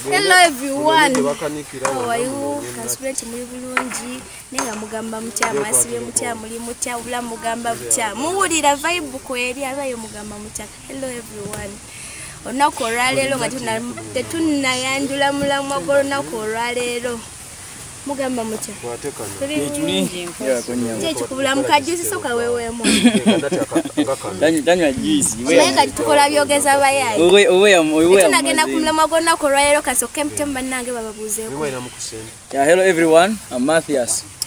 Hello everyone. How are you? Kasubira kimuli bulungi. Nenga mugamba mutya mwasibye mutya muli mutya ubula mugamba mutya. Muwulira vibe kweri abayo mugamba mutya. Hello everyone. Onakoralelo ngatunayandula mulamwa goronakoralelo. mugamba mutya kyekikubula mukajusi soka wewemu naye kati tukola byogeza bayayitunagenda ku mulamwa gwonnaku olwaleero kasoka emutemu bannange bababuuzeeko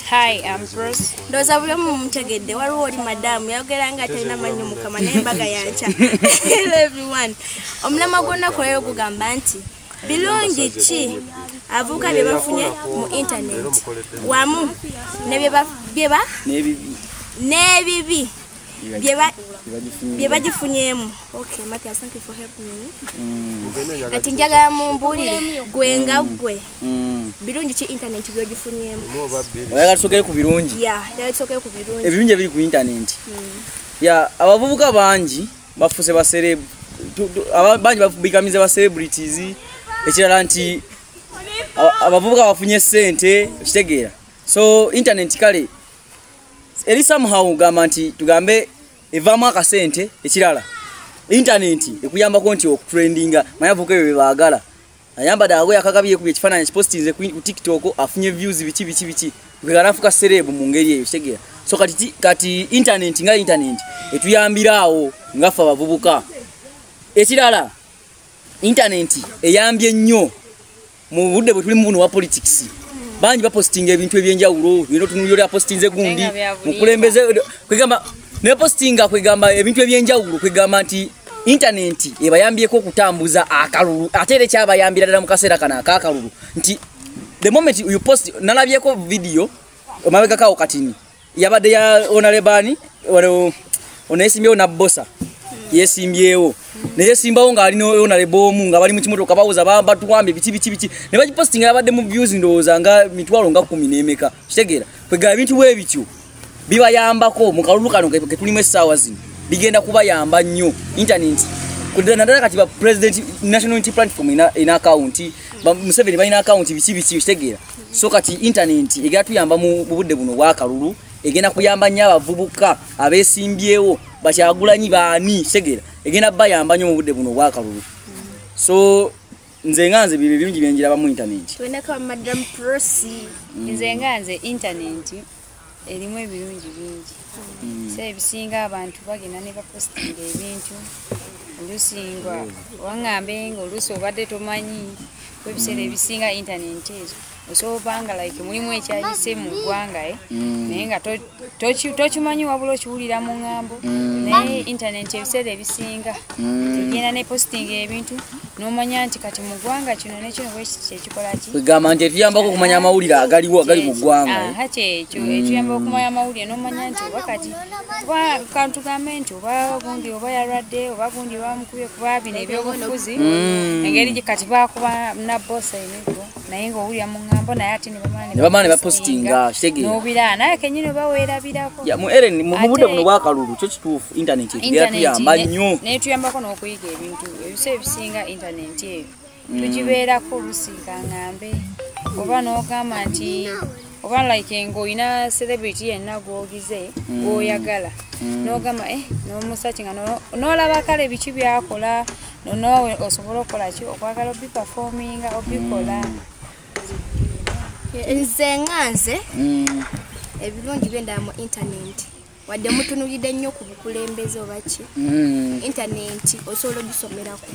Hi, I'm Bruce. Ndoza buli omu mumutegedde waliwo oli madamu yayogera nga atalina mannyo mukama naye mbaga yankya. Hello everyone. Omulamwa gwonna kulayo gugamba nti birungi ki avuuka bye bafunye mu intaneti wamu n'ebibi bye bagifunyemu kati mm. njagala mumbulire gwe nga mm. gwe mm. birungi ki intaneti byogifunyemu oyagala tusokere ku birungi ebirungi ebiri ku intaneti abavubuka bangi bafuse ba celeb bangi bikamize ba celebrities ekirala nti abavubuka bafunye sente okitegeera so internet kale eri somehow gamba nti tugambe evamu akasente ekirala internet ekuyambako nti okutrendinga mayavuka ebyo byebaagala ayambadde akagoye akagabi yekubye ekifaananyi kipositinze ku tiktok afunye views biki biki biki gweanafuka serebu mu ngeri eyo kitegeera so kati kati internet nga internet etuyambiraawo nga ffe abavubuka ekirala internet eyambye nnyo mu budde bwe tuli mu buno wa politics bangi bapositinga ebintu ebyenjawulo nero tunuliro lya positinze gundi mukulembeze kwegamba nepositinga kwegamba ebintu ebyenjawulo kwegamba nti intaneti ebayambyeko okutambuza akalulu ate era ekyabayambira ddala mu kaseera kano akakalulu nti the moment you post nalabyeko vidiyo omabegakawo katini yabadde ya onalebani onayesimbyewo nabbosa yesimbyewo neyesimbawo ngaali nonalebo omu nga bali mukimotoka bawoza batuwambye biki biki biki ne bagipostinga yabadde mu views ndowooza nga mitwalo nga kumi nemeka kitegeera kwegala ebintu bwe bityo bibayambako mu kalulu kano ketulimu essaawa zino bigenda kubayamba nnyo intaneti naddala kati ba president national unity platform ina akawunti museveni balina akawunti biki biki kitegeera so kati intaneti egenda tuyamba mu budde buno obwakalulu egenda kuyamba nnyo abavubuka abesimbyewo bakyagulanyi baani kitegeera egenda bayamba nnyo mu budde buno obwakalulu so nze nga nze bibyo bingi byenjiraba mu internet wenako madam prosi mm. nze nga nze internet erimu ebirungi bingi mm. so ebisinga abantu bagenda ne bapostinga ebintu oluusi nga waŋŋambe nga oluusi obadde tomanyi ebiseera ebisinga internet ezo osobanga like mulimu ekyayise mu ggwanga eh? mm. naye nga tokimanyi wabula okiwulira mu ŋŋambo mm. naye intaneti ebiseera ebisinga mm. egenda ne postinga ebintu nomanya nti kati mu ggwanga kino nekino bwekikolakigamba nti etuyambako okumanya amawulire agaliwo agali mu ggwanga eh? kyekyo etuyamba okumanya amawulire nomanya nti oba kati oba kantugambe nti oba gundi oba yalwadde oba gundi bamukubye kuba bino ebyobufuzi engeri kati bakuba nabosainego naye nga owulira mu ŋŋambo naye ate nebamala nebapostinga nobira naye kenyini oba weerabirako mu eren mu budde buno bwakalulu kyo kituufu intaneti etuyamba nnyo naye tuyambako n'okuyiga ebintu ebisa ebisinga intaneti eyo mm. tugibeerako olusiika ŋambe oba n'ogamba nti oba like nga olina celebrity yenna gwogize mm. gwoyagala mm. n'ogamba eh, n'omusaki nga n'olaba kale biki byakola nonoowe osobola okukola ki okwagala obipafominga obikola mm. nze nga nze mm. ebirungi byendaba mu intaneti wadde mutunulidde nnyo ku bukulembeze oba ki mm. intaneti osobola ogisomeraku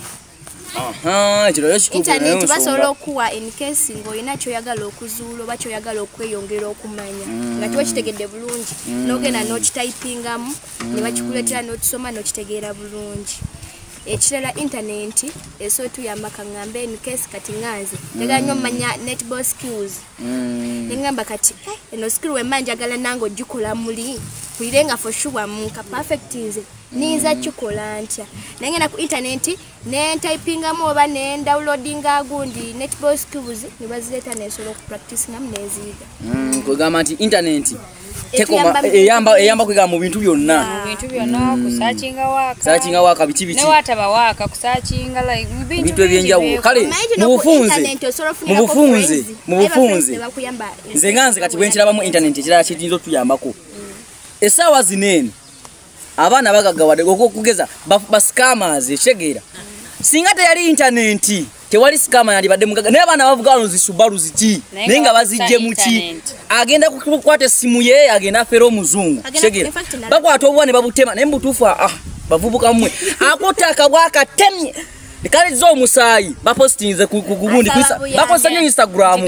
intaneti basobola okuwa enkesi ngaolina kyoyagala okuzuula oba kyoyagala okweyongera okumanya nga kiba kitegedde bulungi nogenda nokitayipingamu ne bakikuleetera n'okisoma n'okitegeera bulungi ekirala intanenti eso tuyamba kaŋŋamba eno kesi kati ŋanze njagala nnyo omanya mm. netball skills mm. ne ŋŋamba kati eh, eno skill wemba njagala nange ogikola muli mpulire nga foshuwa mu nka perfect nze niyinza mm. kikola ntya naye ngenda ku intanenti ne ntypingamu oba ne ndawulodinga agundi netball skills ne bazireeta nensobola okupractisingamu neziyiga mm, kwegamba nti intaneti eyamba kwegamba mu bintu byonna kusakinga waaka biki bikibintu ebyenjawulo kale mubufunze mubufunze nze nga nze kati bwenkirabamu intaneti ekirala kiyinza otuyambako mm. esaawa zineeno abaana bagagawade okugeza bascamas ekitegeera singa teyali intanenti tewali scama yandibadde mugaga naye abaana bavuga wano zisubalu ziki naye nga bazijje muki agenda kukwata essimu ye agenda afera omuzungu kitegeera bakwata obuwa ne babutema naye mubutuufu ah, ah, bavubuka mwe akutte akabwa akatemye kaliza omusaayi bapositinze ku gundi bakozesa nyo instagram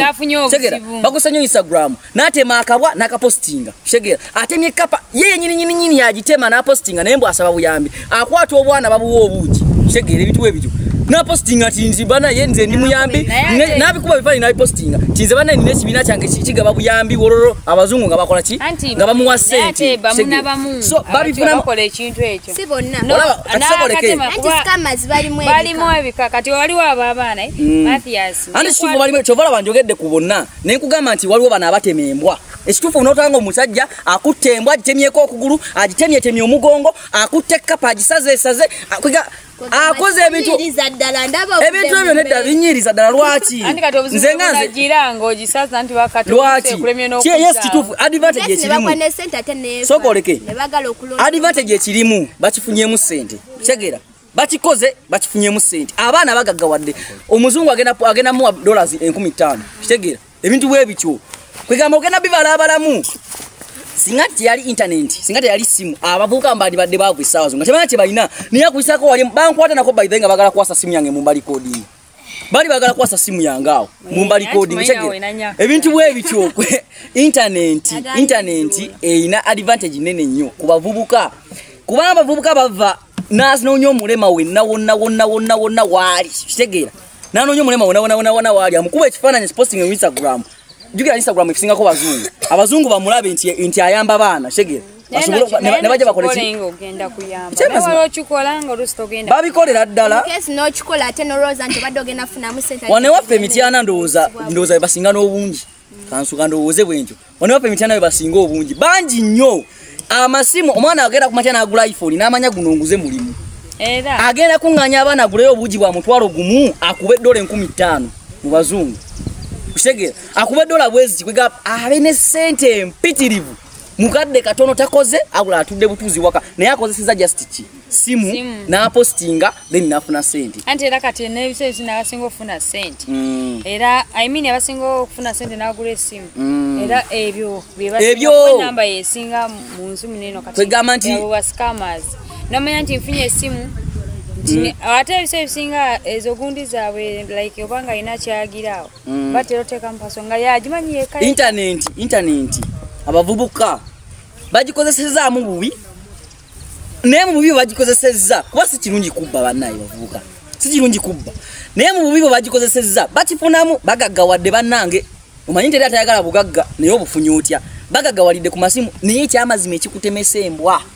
kitegeera bakozesa nyo instagram natema akabwa nakapostinga shegera atemye kapa yeye nyini nyini nyini yajitema na postinga naye mbu asaba buyambi akwata obwana babuwa obuji shegera ebitu we bitu na postinga tinzi bana ye nze ndi muyambi nabi kuba bifani nabi postinga tinze bana ni nesi bina change chichi gaba buyambi wororo abazungu ngaba kola chi ngaba muwa sente bamuna bamu so babi funa kola ekintu echo si bonna no akasoboleke anti scammers bali mwe bali mwe bikakati wali wa baba na eh? mm. Mathias anti shubu bali mwe chovala banjogedde kubonna ne nkugamba nti waliwo bano abatema embwa ekituufu onotaba nga omusajja akutte embwa agitemyeko okugulu agitemyetemye omugongo akutte ekkapa agisazeesaze akoze ebintu ebintu ebyo nedda binyiriza ddala lwaki nze nga nzelwakiyes kituufu advantage ekirimu sokoleke advantage ekirimu bakifunyemu ssente kitegeera bakikoze bakifunyemu sente abaana bagaggawadde omuzungu agenda agenda muwa dollars enkumi ttaano kitegeera ebintu bwe bityo kwegamba ogenda bibala abalamu singa teyali intaneti singa teyali simu abavubuka mbandi badde baavu essaawa zo nga tebalina kye balina naye akuyisako wali bankwata nako baithe nga bagala kuwasa simu yange mu mbali koodiini bali bagala kwasa simu yange awo eh, mumba recording tegera ebintu bwe bityo internet internet eina advantage nene nnyo kubavubuka kuba abavubuka bava nasi nonyo mulema wenna wonna wonna wonna wonna waali kitegera nanonyo mulema wonna wonna wonna wonna waali amukuba ekifaananyi posting on instagram jukira instagram efisingako bazungu abazungu bamulabe nti nti ayamba baana kitegera nebajja bakolbabikolera ddalawanewaffe emityana ndowooza ndowooza bebasinga n'obungi kansuka ndowooze bwenkyo wanewaffe emityana bebasinga obungi bangi nnyo amasimu omwana agenda kumatya nagula iphone namanya guno nguze mulimu agenda kuŋŋanya abaana aguleyo obuugi bwa mutwalo gumu akuba eddola enkumi ttaano mu bazungu kitegeera akuba eddola bweziti kwegamba abe ne ssente empitirivu mukadde katono takoze abula atudde butuzi waka naye akozeseza just ki simu napostinga then nafuna sente anti era kati nebiseezi nabasinga okufuna sente mm. era i mean abasinga okufuna sente nagula esimu mm. era ebyo byebasinamba yesinga munsi muneno katikwegamba nti wascamas nomanya nti nfunye esimu mm. ate ebiseebisinga ezo gundi zaabwe like obanga alina kyagiraawo mm. batera oteeka mupaso nga yagimanyi yeka intanenti intanenti abavubuka bagikozesezaamu bubi naye mu bubi bwebagikozesezza kuba si kirungi kubba bannaye bavubuka si kirungi kubba naye mu bubi bwebagikozesezza bakifunamu bagaggawadde bannange omanyi teri atayagala bugagga naye obufunyi otya bagagawalidde ku masimu naye ekyamazima ekikutemesa embwa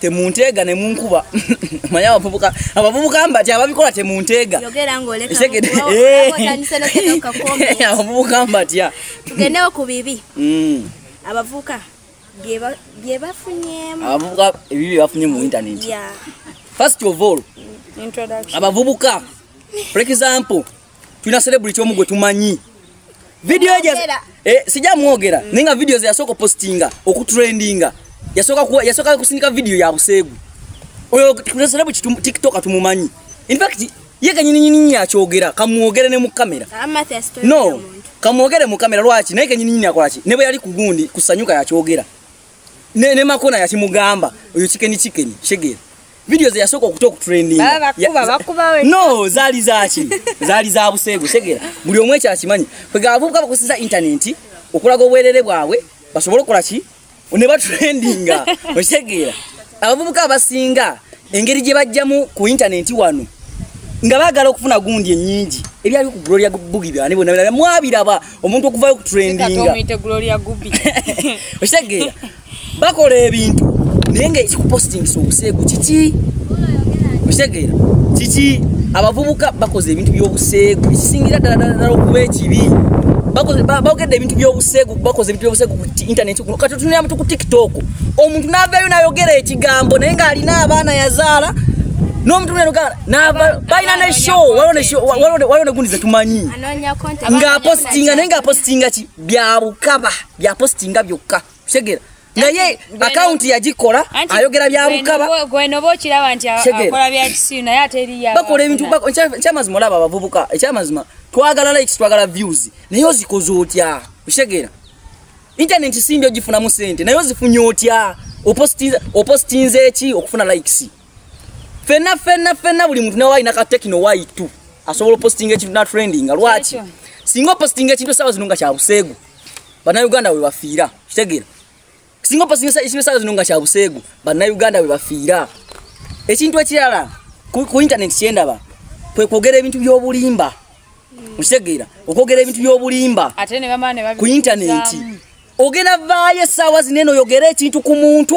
temunteega ne munkuba manya abavubuka abavubuka mba ti ababikola temunteega abavubuka mba tya tugendewo ku bibi mm. abavubuka byebafunyemu abavubuka ebibi byebafunye mu internet first of all abavubuka for example tulina celebrity omu gwe tumanyi vidiyo ejo eh, sijja mwogera naye nga vidiyo ze yasooka opositinga okutrendinga yasooka kusindika vidiyo ya buseegu oyo celebrity tiktok tumumanyi infact ye kanyininyini akyogera kamwogere ne mu kamera no kamwogere mu kamera lwaki naye kanyininyini akolaki ne bwe yali ku gundi kusanyuka yakyogera ne makona yakimugamba oyo kikeni kikeni shegera video ze yasoko okuta okutrending baba kuba bakuba we no zali zachi zali za busego segera buli omwe cha kimanyi kwe gavubuka bakusiza internet okulaga obwerere bwawe basobola okola ki ne batrendinga osegera abavubuka abasinga engeri gye bajjamu ku internet wano nga bagala okufuna gundi enyingi ebyali ku gloria bugi byane bona byana mwabiraba omuntu okuvayo okutrendinga okitegeera bakola ebintu naye nga ekikupostingisa obuseegu kiki okitegeera kiki abavubuka bakoze ebintu byobuseegu ekisingira ddaladdala okuba ekibi bogedde ebintu byobuseegu bakoze ebintu byobuseegu ku internet kati otunira mutu ku tiktok omuntu navayo nayogera ekigambo naye ngaalina abaana yazaala nomuntu nenogala balina ne show waliwo negundi zetumanyi ngaapositinga naye ngaapositinga ki byabukaba byapositinga byokka kitegeera naye akawunti yagikola ayogera byabukabaakola ebintu ekyamazima olaba abavubuka ekyamazima twagala likes twagala views naye ozikoze otya okitegeera intaneti simbi ogifunamu sente naye ozifunye otya opostinze eki okufuna likes fenna fenna fenna buli muntu nawe alina katekino y2 asobola opostinga ekintu natrendinga lwaki singa opostinga ekintu esawa zino nga kyabuseegu bannayuganda we bafiira kitegeera singa opasinga ekibesaala zino nga kya buseegu bannayuganda we bafiira ekintu ekirala ku intaneti kyendaba kwe kwogera ebintu by'obulimba okitegeera okwogera ebintu by'obulimba ku intaneti ogenda vaayo essaawa zino eno oyogera ekintu ku muntu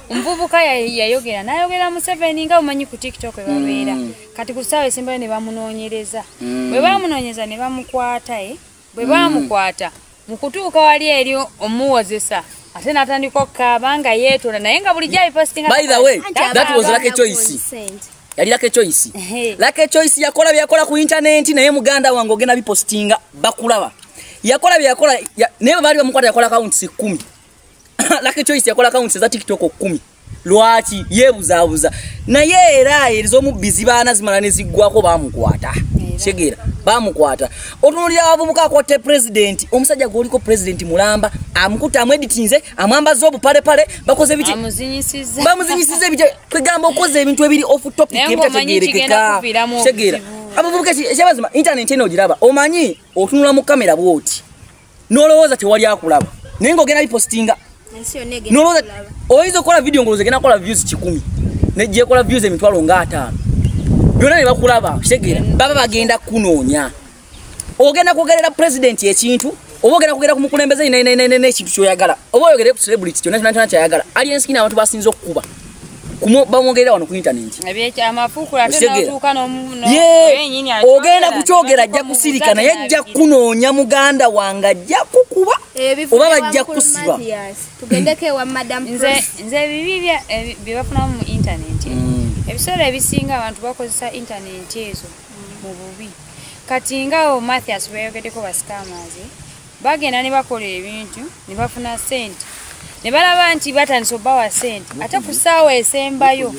omuvubuka yayogera nayogera museveni nga omanyi ku tiktok ebabeera mm. kati ku saawa esembayo ne bamunoonyereza mm. bwe bamunoonyeza ne bamukwata e bwe bamukwata mu kutuuka wali eri omuwozesa ate natandika okukaaba nga yeetola naye nga bulijjo abipostinga yali lake choice lake choice yakola byakola ku internet naye muganda wange ogenda bipostinga bakulaba yakola byakola naye bali bamukwata yakola accounts 10 Lucky Choice yakola accounts za TikTok 10. Lwaki yebuzabuza. Naye era erizomu busy bana zimala ne ziggwako bamukwata. Segera bamukwata. Otunulira abavubuka kwa te president, omusajja gwoliko president mulamba, amukuta amwe editinze, amwamba zobu pale pale, bakoze bichi. Bamuzinyisize. Bamuzinyisize bichi. Kwegamba okoze ebintu ebiri off topic ebita tegerekeka. Segera. Abavubuka kyebazima internet eno ogiraba. Omanyi otunula mu kamera bwoti. nolowooza tewali akulaba naye ngaogenda bipostinga oyinza okukola vidiyo ngaolooza genda kola views kikumi nejjekola views emitwalo nga ataano byonna ne bakulaba kitegeera baba bagenda kunoonya ogenda kwogerera pulezidenti ekintu oba ogenda kugera ku mukulembeze ekintu kyoyagala oba oyogere ku celebrity kyona kyona kyona kyayagala alienskin abantu basinza okukuba bamwogerera wano ku intaneti ogenda kukyogera ajja kusirika naye ajja kunoonya muganda wange ajja kukuba eh, oba bajja kusiba nze ebibi byebafunamu mu intaneti mm. ebiseera ebisinga abantu bakozesa intaneti ezo mu bubi kati ngawo mathias beyogedeko basikaamazi bagenda ne bakola ebintu ne bafuna sente ne balaba nti batandise obawa sente ate ku ssaawa esembayo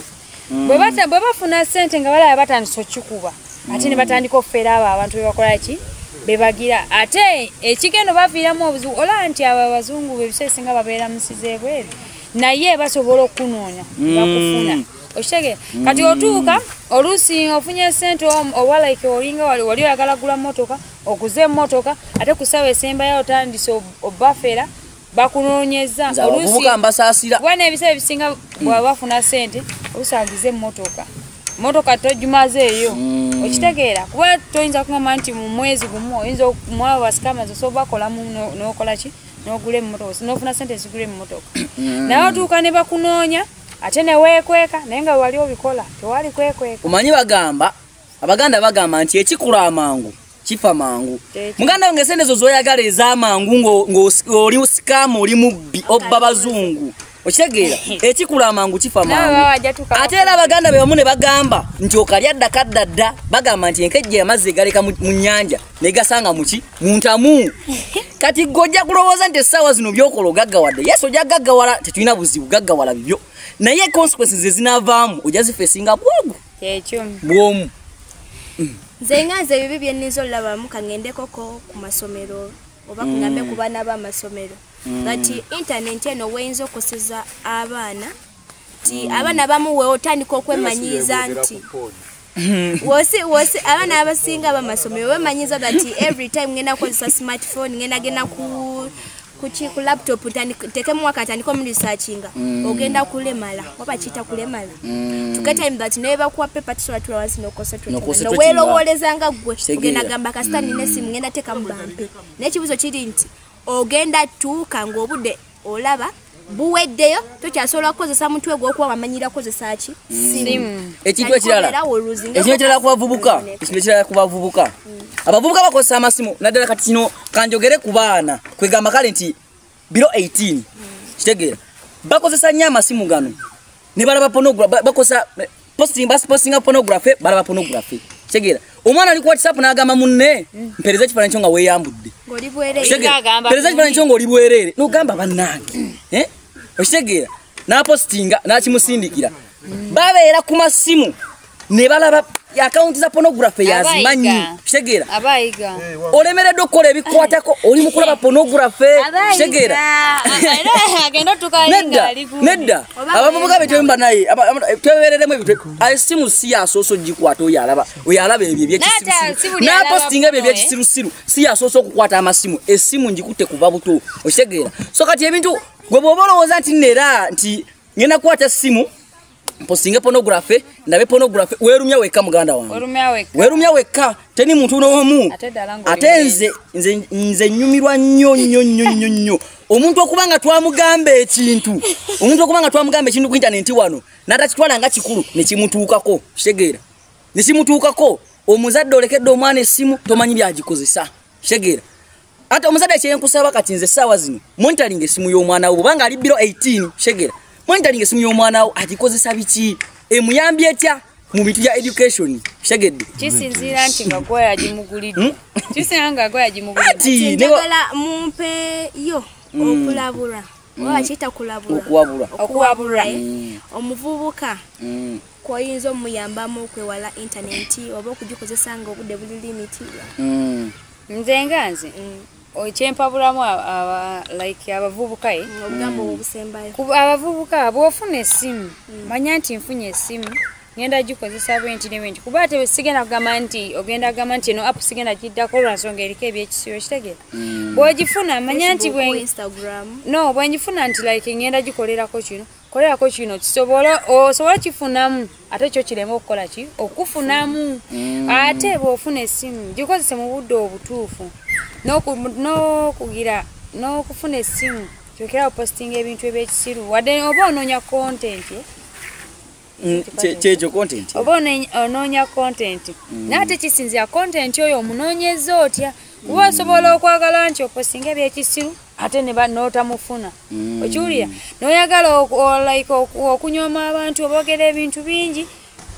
mm. bwe bafuna sente nga balaba batandise okikuba ate ne batandika okufeera abo abantu bebakola ki bebagira ate ekigendo baviiramu obuzibu olaba nti abo abazungu bebisa esinga babeera musiza ebweru naye basobola okunoonya mm. bakufuna okitegeera mm. kati otuuka oluusi ofunye sente owa like olinga wali oyagala gula motoka okuza emotoka ate kusawa esembayo otandise obafera bakunonyeza olusiwana ebiseera ebisinga bwaba bafuna sente olusangiza emotoka motoka tojumaze eyo mm. okitegeera kuba toyinza kugamba nti mu mwezi gumu oyinza mwaba basikamazi osobola bakolamu nokola ki nogula emotoka nofuna sente ezigula emotoka mm. naye otuuka ne bakunoonya ate newekweka naye nga wali obikola tewali kwekweka omanyi bagamba abaganda bagamba nti ekikula amangu kifa mangu muganda wange sente ezo zoyagala ezamangu ng'oli sikamu oli mubbi obba bazungu okitegeera ekikula amangu kifa mangu ate era abaganda be bamu ne bagamba nti okalya ddaka dda dda bagamba nti enkejja amazzi egaleka mu nnyanja ne gasanga muki mu ntamu kati gwe ojja kulowooza nti essaawa zino byokola ogaggawadde yesu ojja gaggawala tetulina buzibu gaggawala bibyo naye consequences ezinavaamu ojja zifeesinga bwogu kyekyo bwomu nze nga nze ebibi byenninza olulabamu kangendekoko ku masomero oba kunyambe mm. ku baana b'amasomero mm. but intaneti eno weyinza okusiza abaana nti mm. abaana abamu weotandika okwemanyiiza nti wosi wosi abana abasinga bamasomero wemanyiza that every time ngenda kukozesa smartphone ngenda genda ku kuki ku laptop tekemu wakatandika omulisachinga mm. ogenda kulemala oba kiyita kulemala mm. tugetime that naye bakuwa pepa tusobola tula wansi nokosonowelowooleza nga ggwe ogenda gamba kasita nina esimu mm. ngenda tekamu bampe naye ekibuzo kiri nti ogenda tuuka ng'obudde olaba buweddeyo tokyasobola kukozesa mutwe gwokuba wamanyira kukozesa ki mm. ekintu ekiralaekirala kubavubuka ekintu ekirala kubavubuka mm. abavubuka bakozesa amasimu naddala kati kino kanjogere ku baana kwegamba kale nti biro 18 mm. kitegeera bakozesa nnyo amasimu gano ne balaba pornography bakosa posting bas posting pornography balaba pornography segera omwana ali ku whatsapp n'agamba munne mpereza ekifaananyi kyo nga weeyambudde mpereza ekifaananyi kyo nga oli bwereere n'ogamba bannange eh? okitegeera n'apostinga n'akimusindikira babeera ku masimu ne balaba akawunti za pornography yazimanyi kitegeera eh, olemeredde okukola ebikwatako oli mukulaba pornography kitegeera nedda abavubuka betemba naye twebereremu esimu si yasoosa ogikwata oyo alaba oyo alaba ebyo ebyekisirusiru napostinga ebyo ebyekisirusiru eh? si yasoosa okukwata amasimu esimu ngikutte kuva buto okitegeera so kati ebintu gwe bwoba olowooza nti nera nti ngenda kukwata simu mposinge pornography ndabe pornography werumya wekka muganda wange werumya wekka teni muntu n'omu ate nze nze nze nyumirwa nnyo nnyo nnyo nnyo nnyo omuntu okuba nga twamugamba ekintu omuntu okuba nga twamugamba ekintu ku intanenti wano natakitwala nga kikulu nekimutuukako kitegeera nekimutuukako omuzadde olekedde omwana essimu tomanyi byagikozesa kitegeera ate omuzadde kyenkusaba kati nze essaawa zino monitoring esimu y'omwana wo bwobanga ali biro 18 shegera monitoring esimu y'omwana wo agikozesa biki emuyambye etya mu bintu bya education shegedde kisinziira nti nga gwoya gimugulidde hmm? kisinziira nga gwoya gimugulidde njagala mumpe yo hmm. okulabula hmm. oba kiyita kulabula okuwabula omuvubuka kwoyinza omuyambamu okwewala intaneti oba okugikozesa nga obudde buli limiti nze nga nze mm. kyempabulamu like abavubuka e abavubuka bwofuna esimu mm. manya nti nfunye esimu ngenda gikozesa bwenti ne bwenti kuba ate sigenda kugamba nti ogenda kugamba nti eno apu sigenda giddako olwansonga eriko ebyekisibo kitegera mm. bwogifuna manya nti no bwengifuna nti like ngenda gikolerako kino kolelako kino kisobole osobola kifunamu ate kyo kireme okukola ki okufunamu mm. ate bwofuna esimu gikozese mu budde obutuufu n'okugira n'okufuna esimu kyokera opositinga ebintu ebyekisiru wadde oba onoonya kontenti mm, kyekyo kontenti oba onoonya kontenti mm. naye ate kisinzira kontenti oyo omunoonyeza otya kuba osobola okwagala nti opositinga ebyekisiru ate notamufuna mm. okiwulira noyagala like okunyoma abantu obogera ebintu bingi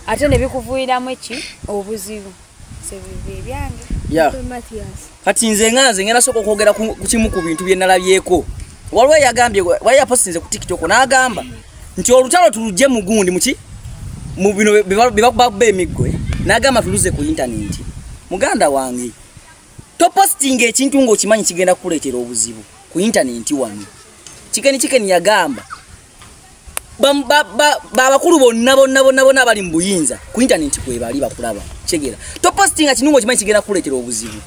ate nebikuvuiramu eki obuzibu ebyange kati nze nga nze ngenda soka okwogera ku kimu ku bintu byenalabyeko waliwo yagambye wali yaposinze ku tiktok nagamba nti olutalo tulugye mugundi muki mubino bebakubakuba emiggo nagamba tuluze ku intaneti muganda wange topostinga ekintu ng'okimanyi kigenda kukuleetera obuzibu ku intanenti wano kikeni kikeni yagamba babakulu bonna bonna bonna bonna abali mu buyinza ku intanenti kwebali bakulaba kyegera topostinga kintu ng'okimanyi kigenda kukuleetera obuzibu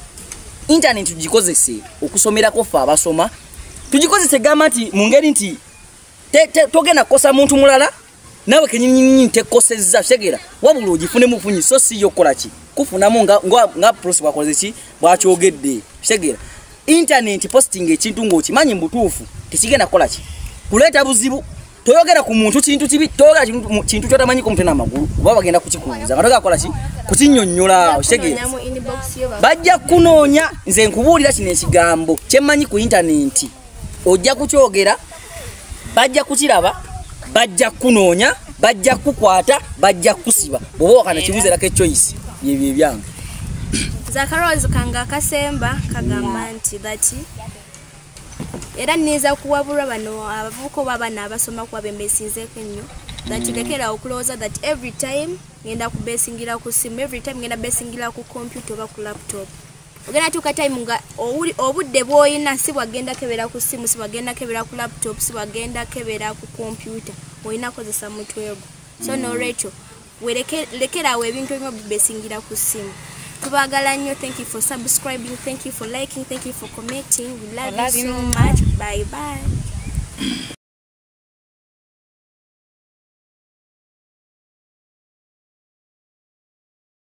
intanenti tugikozese okusomerako ffe abasoma tugikozese gamba nti mu ngeri nti togenda kukosa muntu mulala nawe kenyinyinyini tekoseza shegera wabula ogifune mufunyi so si yokola ki kufunamu nga nga, nga prosi bwakoze ki bwakyogedde shegera internet posting ekintu ng'okimanyi mbutuufu tekigenda kukola ki kuleeta buzibu toyogera ku muntu kintu kibi toyogera kintu kyotamanyi ku mutwe n'amagulu oba bagenda kukikuuza nga togera kukola ki kukinyonnyola okitegeera bajja kukunoonya nze nkubuulira kino ekigambo kyemmanyi ku internet ojja kukyogera bajja kukiraba bajja kukunoonya bajja kukukwata bajja kukusiba bwoba wakana kibuzeerako echoice yebyo ebyange zakarowoozo kange akasemba kagamba nti bati era nniinza kuwabulwa bano abavubuka oba abaana abasoma kuba bembesinzeeko ennyo that lekera okulowooza that every time ngenda kubesingira ku simu every time ngenda besingira ku computer oba ku laptop ogenda tuuka time nga obudde bwolina si bwagenda kebera ku simu si bwagenda kebera ku laptop si bwagenda kebera ku kompyuta olina kukozesa mutwego so mm. norecho werekeraawo ebintu ebimu bibesingira ku simu tubagala nnyo thank you for subscribing thank you for liking thank you for commenting we love, we love you so much bye bye